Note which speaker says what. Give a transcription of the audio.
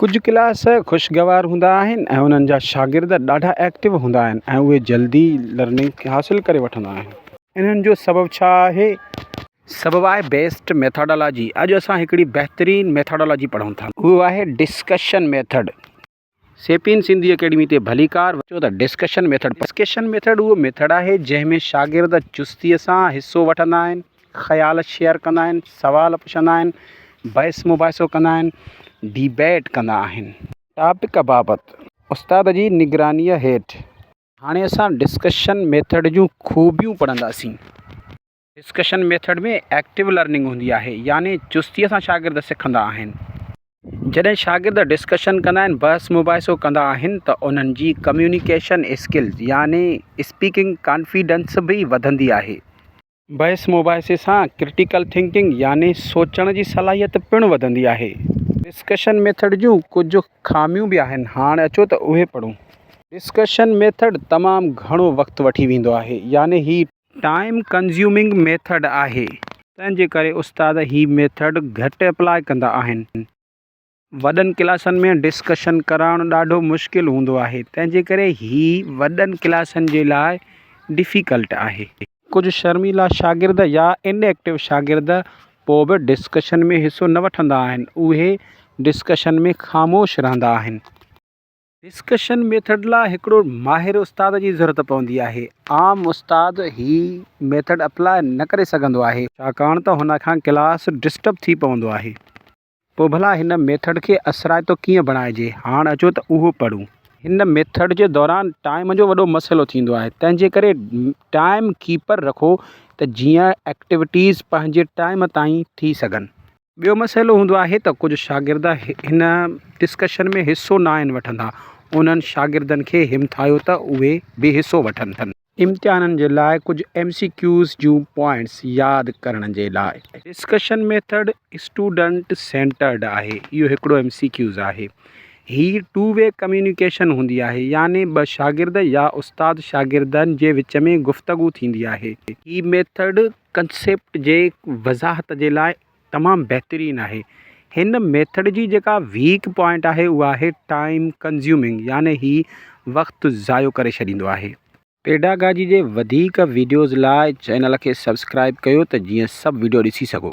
Speaker 1: ڪجهه ڪلاس خوشگوار هوندا آهن ۽ انهن جا شاگرد ڏاڍا ايڪٽو هوندا آهن ۽ اهي جلدي لرننگ حاصل ڪري وٺندا آهن انهن جو سبب ڇا آهي؟ سبب آهي بيسٽ ميٿاڊالاجي اڄ اسان هڪڙي بهترين ميٿاڊالاجي پڙهون ٿا. اهو آهي ڊسڪشن ميٿڊ. سيپين سنڌي اڪيڊمي تي ڀليڪار وچو ته ڊسڪشن ميٿڊ پڙهو. ڊسڪشن ميٿڊ اهو ميٿڊ آهي جنهن ۾ شاگرد چستي سان حصو وٺندا آهن. خيال شيئر ڪندا آهن، سوال پڇندا آهن، بحث مباحثو ڪندا آهن، Debate، ڪندا آهن. ٽاپڪ بابت استاد جي نگرانيء هيٺ. هاڻي اسان ڊسڪشن ميٿڊ جون خوبيون پڙهنداسين. ڊسڪشن ميٿڊ ۾ ايڪٽو لرننگ هوندي آهي يعني چستيء سان شاگرد سکندا آهن. جڏهن شاگرد ڊسڪشن ڪندا آهن، بحث مباحثو ڪندا آهن ته انهن جي ڪميونيڪيشن اسڪلز يعني اسپيڪنگ ڪانفيڊنس به وڌندي آهي. بحث مباحثي سان ڪرٽيڪل ٿنڪنگ يعني سوچڻ جي صلاحيت پڻ وڌندي آهي. ڊسڪشن ميٿڊ جون ڪجهه خاميون به آهن هاڻ اچو ته اهي پڙهون. ڊسڪشن ميٿڊ تمام گهڻو وقت وٺي ويندو آهي يعني هي. ٽائيم ڪنزيومنگ ميٿڊ آهي تنهن جي ڪري استاد هي ميٿڊ گهٽ اپلاء ڪندا آهن. وڏن ڪلاسن ۾ ڊسڪشن ڪرائڻ ڏاڍو مشڪل هوندو آهي تنهن جي ڪري هي وڏن ڪلاسن جي لاء ڊفيڪلٽ آهي. ڪجهه شرميلا شاگرد يا ان ايڪٽو شاگرد پوء به ڊسڪشن ۾ حصو نه وٺندا آهن اهي ڊسڪشن ۾ خاموش رهندا آهن. ڊسڪشن ميٿڊ لاء هڪڙو ماهر استاد جي ضرورت پوندي آهي عام استاد هي ميٿڊ اپلاء نه ڪري سگهندو آهي ڇاڪاڻ ته هن کان ڪلاس ڊسٽرب ٿي پوندو آهي. پوء ڀلا هن ميٿڊ کي اثرائتو ڪيئن بڻائجي؟ هاڻ اچو ته اهو پڙهون. هن ميٿڊ جي دوران ٽائيم جو وڏو مسئلو ٿيندو آهي تنهن جي ڪري ٽائيم ڪيپر رکو ته جيئن ايڪٽيوٽيز پنهنجي ٽائيم تائين ٿي سگهن. ٻيو مسئلو هوندو آهي ته ڪجهه شاگرد هن ڊسڪشن ۾ حصو ناهن وٺندا، انهن شاگردن کي همٿايو ته اهي به حصو وٺن. امتحانن جي لاء ڪجهه ايم سي ڪيوز جون پوائنٽس ياد ڪرڻ جي لاء. ڊسڪشن ميٿڊ اسٽوڊنٽ سينٽرڊ آهي اهو هڪڙو ايم سي ڪيوز آهي. هي ٽو وي ڪميونيڪيشن هوندي آهي يعني ٻه شاگرد يا استاد شاگردن جي وچ ۾ گفتگو ٿيندي آهي. هي ميٿڊ ڪنسيپٽ جي وضاحت جي لاء. تمام بهترين آهي هن ميٿڊ جي جيڪا ويڪ پوائنٽ آهي اها آهي ٽائم ڪنزيومنگ يعني هي وقت ضايع ڪري ڇڏيندو آهي. پيڊاگاجي جي وڌيڪ ويڊيوز لاء چينل کي سبسڪرائب ڪيو ته جيئن سڀ ويڊيو ڏسي سگهو.